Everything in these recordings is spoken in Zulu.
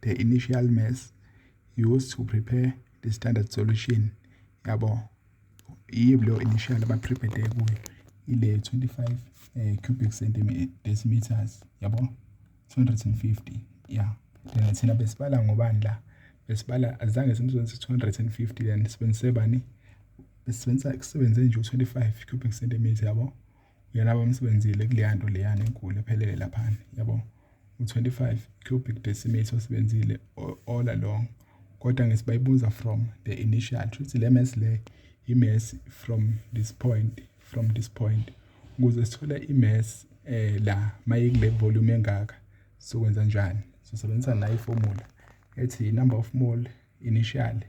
the initial mass used to prepare the standard solution yabo yiyo initial abaprepare kuyo ile 25 eh, cubic centimeters yabo 250 yeah then thina besibala ngobani la besibala azange simsebenzise 250 then sibenzise bani besebenzisa kusebenze nje u25 cubic centimeter yabo uyena abamsebenzile kuleya nto leyana enkulu ephelele laphana yabo u-25 cubic decimeter osebenzile all along kodwa ngesibayibuza from the initial shuthi le mass le i-mass from this point from this point ukuze sithole i-mass eh la mayikule volume engaka sokwenza njani sisebenzisa nayi formula ethi number of mole initial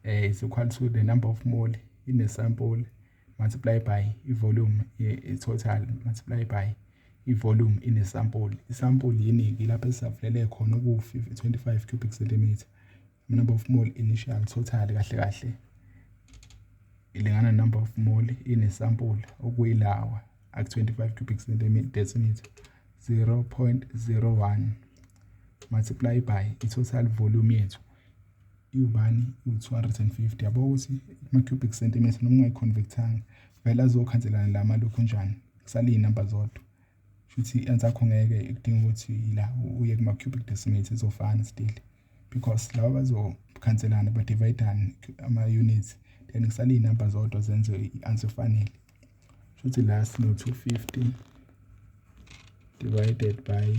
eh is equal to the number of mole in a sample multiply by i-volume i-total multiply by i-volume inesampuli isampuli yiningi lapho esisavulele khona okuwu-25 cubic centimeter number of mole initial total kahle kahle ilingana number of mole inesampuli okuyilawa aku-25 cubic centimeter 0.01 multiply by i-total volume yethu iwubani iwu-250 yabo ukuthi ama-cubic centimeter noma ungayi-convert-anga vele azokhanselana la malokhunjana kusale iy'namba zodwa shuthi i-answer yakho ngeke kudinga ukuthi la uye kuma-cubic decimates izofana still because laba bazokhanselana badivayidane ama-units then kusale iy'namba zodwa zenze i-answer efanele shuthi la sino-250 divided by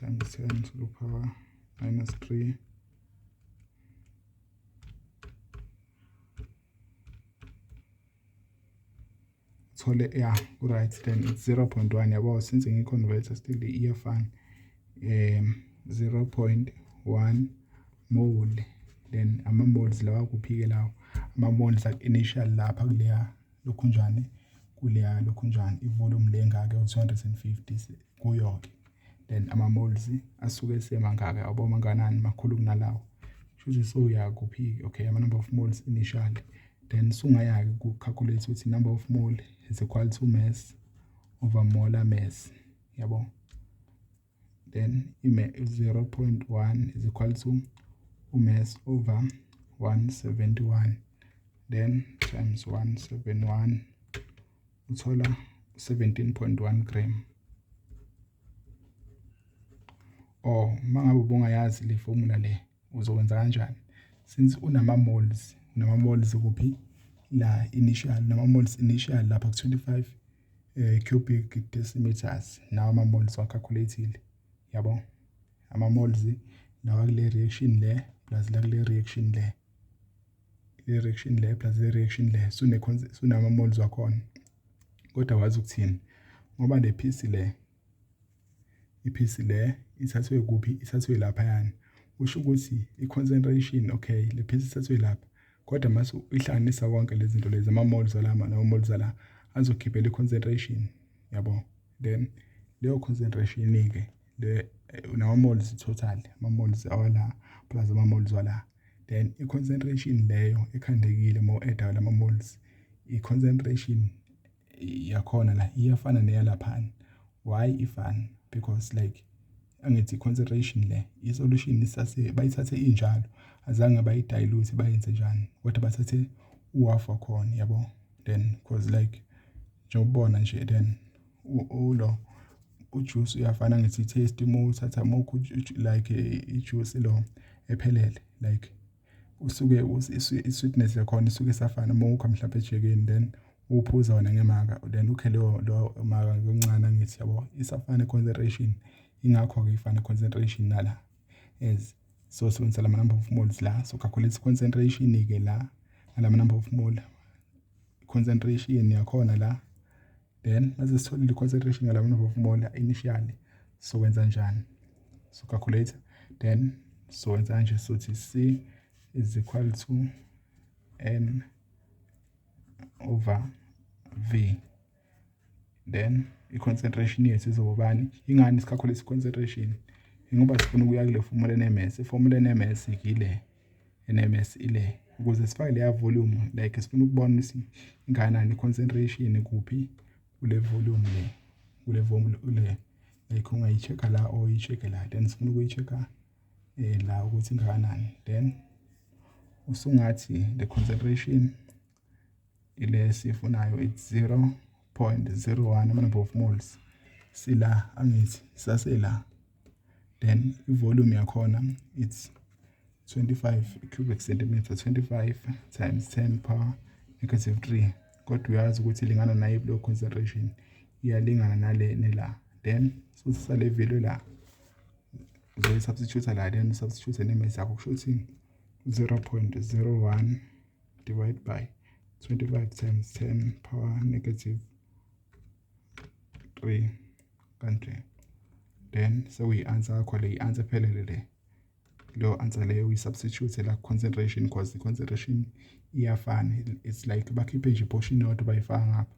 times 10 to the power minus 3 thole ya right then it's 0.1 yabo since ngiconvert still iyafana um 0.1 mole then ama moles lawa kuphike lawo ama moles initial lapha kuleya lokhunjane kuleya lokhunjane ivolume le engaka u-250 kuyo-ke then ama-moles asuke esemangaka yabo manganani makhulu kunalawo kushuthi soya kuphi-ke okay ama-number of moles initially then sungaya-ke ku-calculate ukuthi number of mole is equal to mass over molar mass yabo then ime 0.1 is equal to umass over 171 then times 171 uthola 17.1 gram or mangabe ubungayazi le formula le uzokwenza kanjani since unama moles unama moles kuphi la initial nama moles initial lapha ku 25 eh, cubic decimeters nawo ama-mold siwacalculathile yabo ama-molds lawa kule reaction le plus la kule reaction le le reaction le plus le reaction le sunama-molds wakhona kodwa wazi ukuthini ngoba le phisi le iphisi le ithathwe kuphi ithathwe laphayana usho ukuthi i-concentration okay le phisi ithathwe lapha kodwa mase uyihlanganisa konke lezi zinto lezi ama-moles alama nama-moles ala azokhiphela i-concentration yabo then leyo concentration-ke le nama-moles total ama-moles awala plus ama-moles wala then i-concentration leyo ekhandekile uma u-eda lama-moles i-concentration yakhona la iyafana neyalaphana why ifana because like angithi consideration le isolution isase bayithathe injalo azange bayidayiluthe bayenze njani kodwa bathathe uhalf wakhona yabo then cause like njengobona nje then ulo ujuice uyafana ngithi taste uma uthatha mokho like ijuice lo ephelele like usuke i-sweetness yakhona isuke isafana uma ukha mhlawumpe ejikeni then uphuza wona ngemaka then ukhe leyo leyo maka yokuncane angithi yabo isafana i-concentration ingakho-ke ifana i-concentration nala as so sibenzisela ama-number of moles la so calculate i-concentration-ke la ngala ma-number of mole concentration yakhona la then mase sitholile i-concentration yala number of mole initially sokwenza njani so calculator then sokwenza kanje sothi c is equal to n over v then i-concentration yethu izobobani ingani sikhakhulisa i-concentration ingoba sifuna ukuya kule formula enemesi iformula enemesi yile NMS ile ukuze sifake leya volume like sifuna ukubona ukuthi ingakanani concentration kuphi kule volume le kule volume le like ungayi-check-a la or uyi-check-e la then sifuna ukuyi-check-a eh, la ukuthi ingakanani then usungathi the concentration ile sifunayo it's 0.01 ama-number of moles sila angithi sasela then i-volume yakhona it's 25 cubic centimeter 25 times 10 power negative 3 kodwa uyazi ukuthi ilingana nayo blow concentration iyalingana nalene la then sosisa le value la uzoyisubstitute la then usubstitute ne-mass yakho kusho ukuthi 0.01 divide by 25 times 10 power negative 3 kanje then sekuyi-answer yakho le i-answer ephelele le leyo answer leyo uyi-substitute la concentration because i-concentration iyafana it's like bakhiphe nje iportion yodwa bayifaka ngapha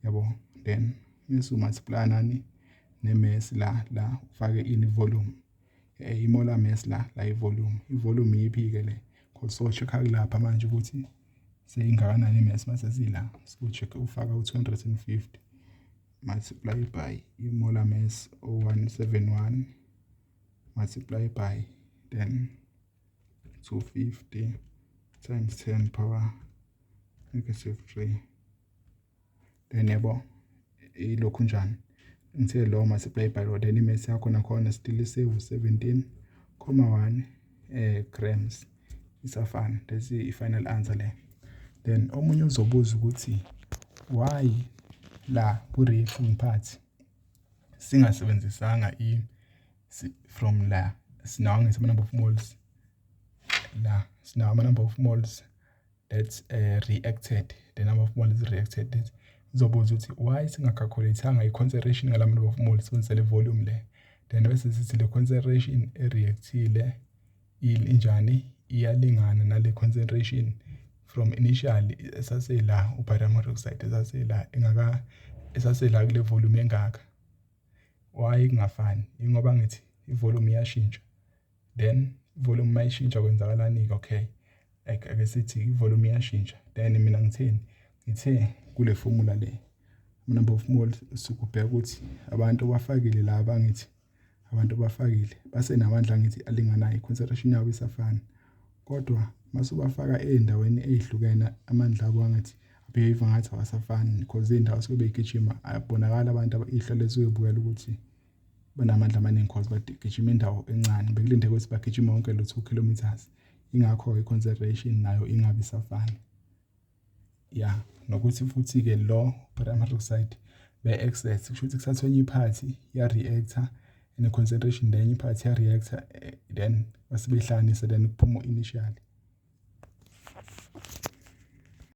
yabo then mese umultiply nani ne-mass la la ufake ini volume eh, imola mess la la ivolume ivolume iyiphi-ke le cause so check-a kulapha manje ukuthi seyingakanani imesi mase sila siku-check ufaka u-250 multiply by imola mess o-171 multiply by then 250 times 10 power negative 3 then yabo ilokhu njani ngithe lo mase play by road and imesi yakho nakhona still isewu 17 comma 1 eh grams isafana that's i final answer le then omunye uzobuza ukuthi why la ku reef ngiphathi singasebenzisanga i from la sinawo ngisema number of moles la sinawo ama number of moles that's uh, reacted the number of moles reacted this sizobuza ukuthi why singakhalculathanga i-concentration ngala number of moles sibenzisa le volume le then bese sithi le concentration ereactile injani iyalingana nale concentration from initially esasela ubarium hydroxide esasela engaka esasela kule volume engaka why kungafani ingoba ngithi ivolume iyashintsha then volume mayishintsha kwenzakalani ke okay like ake sithi ivolume iyashintsha then mina ngitheni ngithe kule formula le number of moles sikubheka ukuthi abantu bafakile la bangithi abantu bafakile basenamandla ngithi alinganayo concentration yabo isafana kodwa masubafaka ezindaweni ezihlukene amandla abo angathi behave ngathi awasafani because indawo sobe igijima abonakala abantu ihlo lezo uyobukela ukuthi banamandla amaningi cause bagijima indawo encane bekulinde ukuthi bagijime wonke lo 2 kilometers ingakho i-consideration nayo ingabi safana ya nokuthi futhi-ke lo potassium hydroxide be-excess kusho ukuthi kuthathwa enye iphathi ya-reactor and concentration then iphathi ya-reactor eh, then basebehlanganise then kuphuma initially